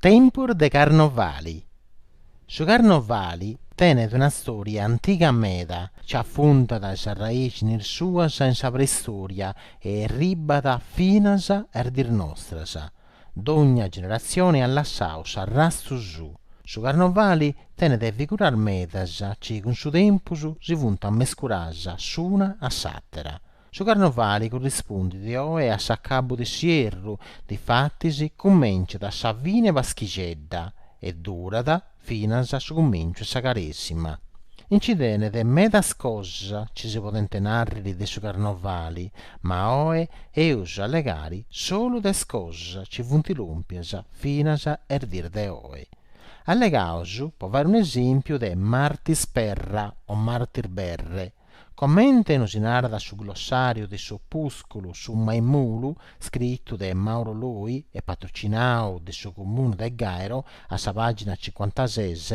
Tempus de carnovali Su carnovali tenet una stòria antiga meda chi afundat is arraìxinis suas in sa preistòria e erribat finas a is dis nostras. Dogna generatzioni at lassau s'arrastu suu. Su carnovali tenet figuras medas chi cun su tempus si funt mescuras s'una a s'àtera. Su carnovali currispundit oe a s'acabu de s'ierru, difatis cumenciat a sa fine 'e Paschixedda e durat finas a su cumenciu 'e sa Caresima. Nci tenet medas cosas ci si podent nàrriri de su carnovali, ma oe eus a allegari solu de is cosas ci funt lòmpias finas a is dis de oe. Allegaus, po fàiri un'esèmpiu, de Martis Perra o Martis Berre, Comente nosi narat su glossàriu de s'opùsculu Su maimulu, scritu de Mauro Loi e patrocinau de su Comunu de Gairo, a sa pàgina cincuantases,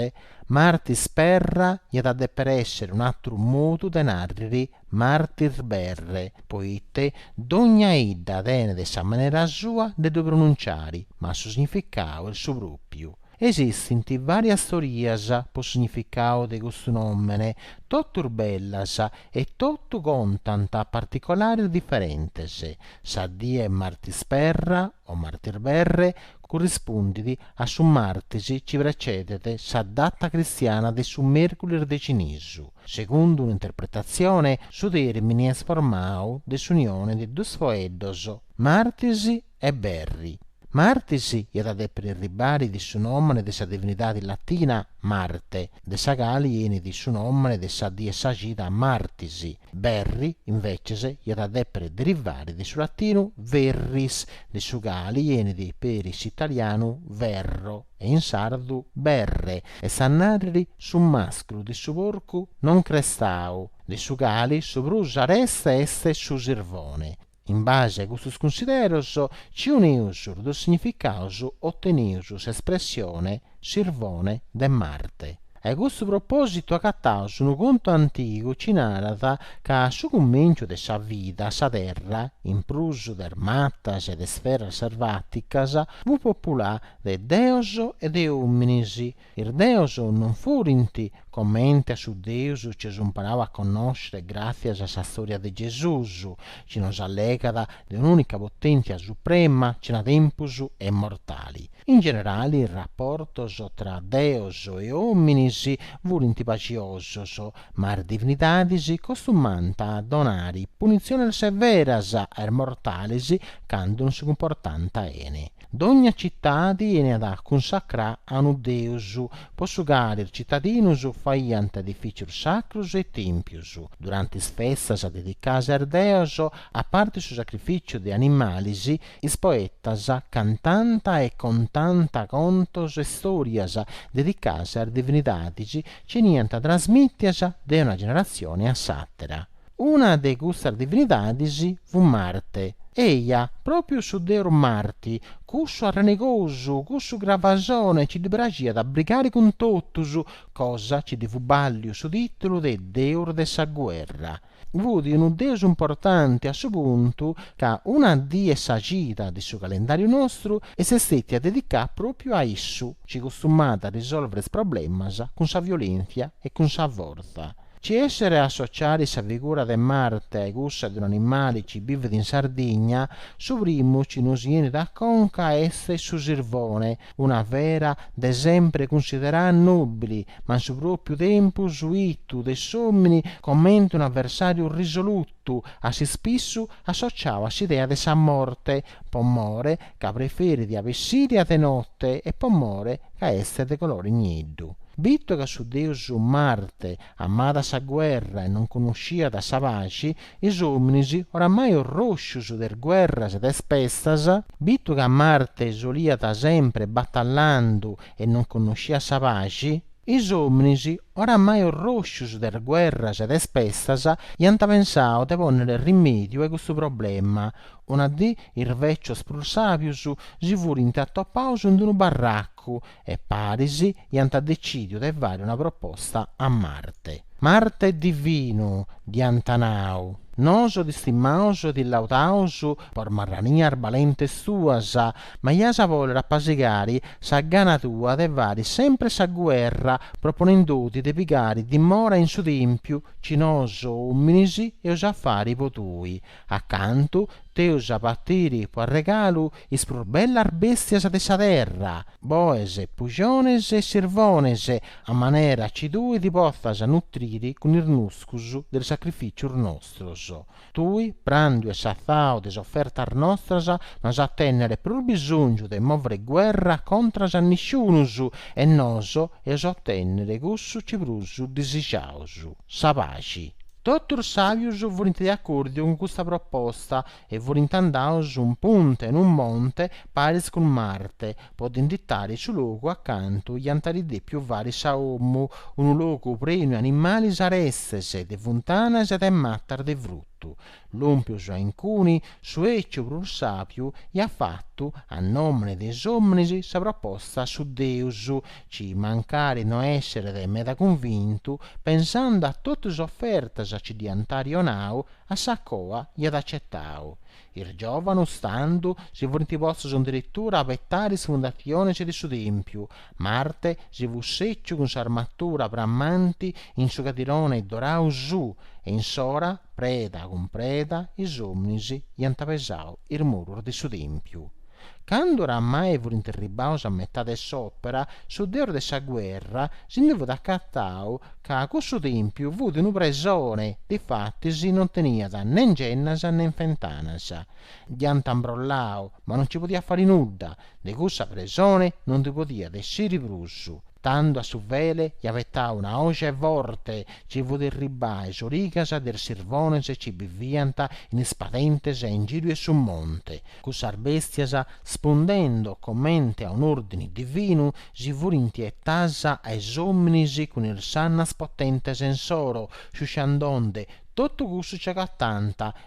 Martis Perra iat a dèpere èssere un'àteru modu de nàrriri Martis Berre, poite dogna idda tenet sa manera sua de ddu pronunciare, ma su significau est su pròpiu. Esistint vàrias teorias po significau de custu nòmene, totus bellas e totu contant particolares diferentes. Sa die 'e Martis Perra o Martis Berre currispundit a su martis chi precedet sa data cristiana de su mèrculis de cinisu. Segundu un'interpretatzione su tèrmini est formau de s'unione de duus foeddos, Martis e berri. Martis iat a dèpiri arribari de su nòmene de sa divinidadi latina Marte, de sa cali enit su nòmene de sa die 'e sa cida Martis, berri, inveces, iat a dèpiri derivari de su latinu verris, de su cali enit peri s'italianu verro e in sardu berre, est a nàrriri su màsculu de su porcu non crestau, de su cali su prus areste est su sirvone. In base a custos cunsideros ci unius is duus significaus otenius s'espressione Sirvone de Marte. Ai custu propòsitu agataus unu contu antigu ci narat ca a su cumenciu de sa vida sa Terra, in prus de is matas e de is feras servàticas, fut populà de deos e de òminis, Is deos non furint comente a su Deus ci eus imparau a connoscere gràtzias a sa stòria de Gesùs, ci nos allegat de un'ùnica potèntzia suprema cena tempus e immortali. In generali is raportos tra deos e òminis furint paxiosos, ma is divinidadis costumànt a donare punitziones severas a is mortalis candu non si cumportànt bene. Dogna citadi 'eniat cunsacrà a unu deus, po su cali is citadinus faiant edifìcius sacrus e tèmpius, durante is festas dedicadas a is deos, a parte su sacrifìciu de animalis, is poetas cantant e contant contos e stòrias dedicadas a is divinidadis, ci 'eniant trasmìtias de una generatzione a s'àtera. Una de custas divinidadis fut Marte, eja, pròpiu su deus Marti, cussu arrenegosu, cussu gravasone ci ddi praxiat a brigare cun totus, cosa ci ddi fut bàlliu su tìtulu de deus de sa guerra. Fut unu deus importanti a su puntu ca una dì 'e sa cida de su calendàriu nostru est stètia dedicada pròpiu a issu, ci costumàt a risòlvere is problemas cun sa violèntzia e cun sa fortza. Ci esseret a associare sa figura de Marte a-i cussa de un'animale ci bivit in Sardigna, su primu ci nosi 'enit a conca est su sirvone, una fera de sempre cunsiderada nobile, ma in su propiu tempus 'itu de s'omini comente unu aversariu risolutu, a s'ispissu associau a s'idea de sa morte, po more ca preferit a bessiri a de note e po more ca est de colore nieddu. Bitu ca su deus Marte amàt sa guerra e non connosciat sa paxi, is ominis, oramai orroscius de is guerras e de is pestas, bitu ca Marte soliat sempre batallandu e non connosciat sa paxi, is ominis, oramai orroscius de is guerras e de is pestas, iant pensau de ponnere rimediu a custu problema, Una dì is vecios prus sàbius si furint atopaus in unu barracu e paris iant decìdiu de fari una proposta a Marte. Marte est divinu, dd'iant nau, noso ti stimaus e ti laudaus po is marranias balentes tuas, ma ias a bòlere apasigari sa gana tua de fari sempre sa guerra proponendoti de pigari dimora in su tèmpiu ci noso òminis eus a fari po tui, Acantu t'eus a partiri po arregalu is prus bellas bèstias de sa terra, boes, puxones e sirvones, a manera ci tui ti potzas nutriri cun is nuscus de is sacrificius nostros. Tui, prandu e satzau de is ofertas nostras, no as a tènnere prus bisognu de mòvere guerra contras a nisciunus, e noso eus a otènnere cussu ci prus disixaus. sa paxi. Totus sàbius furint de acòrdiu cun custa proposta e furint andaus in punta 'e unu monte paris cun Marte po dd'inditari su logu acantu iant ari dèpiu fari sa omu, unu logu prenu 'e animalis arestes, de funtanas e de matas de frutu, Lùmpius a Incuni su eciu prus sàpiu iat fatu a nòmene de is òminis sa proposta a su deus, ci mancari no esseret meda cunvintu, pensando a totu is ofertas ci dd'iant ari onau, a sa coa iat acetau. Is giòvanus tando si furint postus adiritura a betare is fundatzionis de su tèmpiu, Marte si fut sèciu cun s'armatura framanti in su cadirone dorau suu e insora, preda cun preda, is ominis iant pesau is murus de su tèmpiu. Candu oramai furint erribaus a metà de s'òpera, su deus de sa guerra si ndi fut acatau ca cussu tèmpiu fut unu presone, difatis non teniat nen gennas nen fentanas. Dd'iant imbrollau, ma non nci podiat fari nudda, De cussa presone non ndi podiat essiri prus, tando a su fele iat betau una oge forte ci fut irribà a is origas de is sirvones ci biviant in is padentes e in giru 'e su monte, cussas bèstias, spundendo comente a un'òrdini divinu, si furint etàs a is òminis cun is sannas potentes insoro, sciusciandonde totu cussu ci agatànt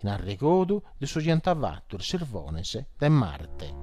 in arregodu de su ci ant fatu is sirvones de Marte.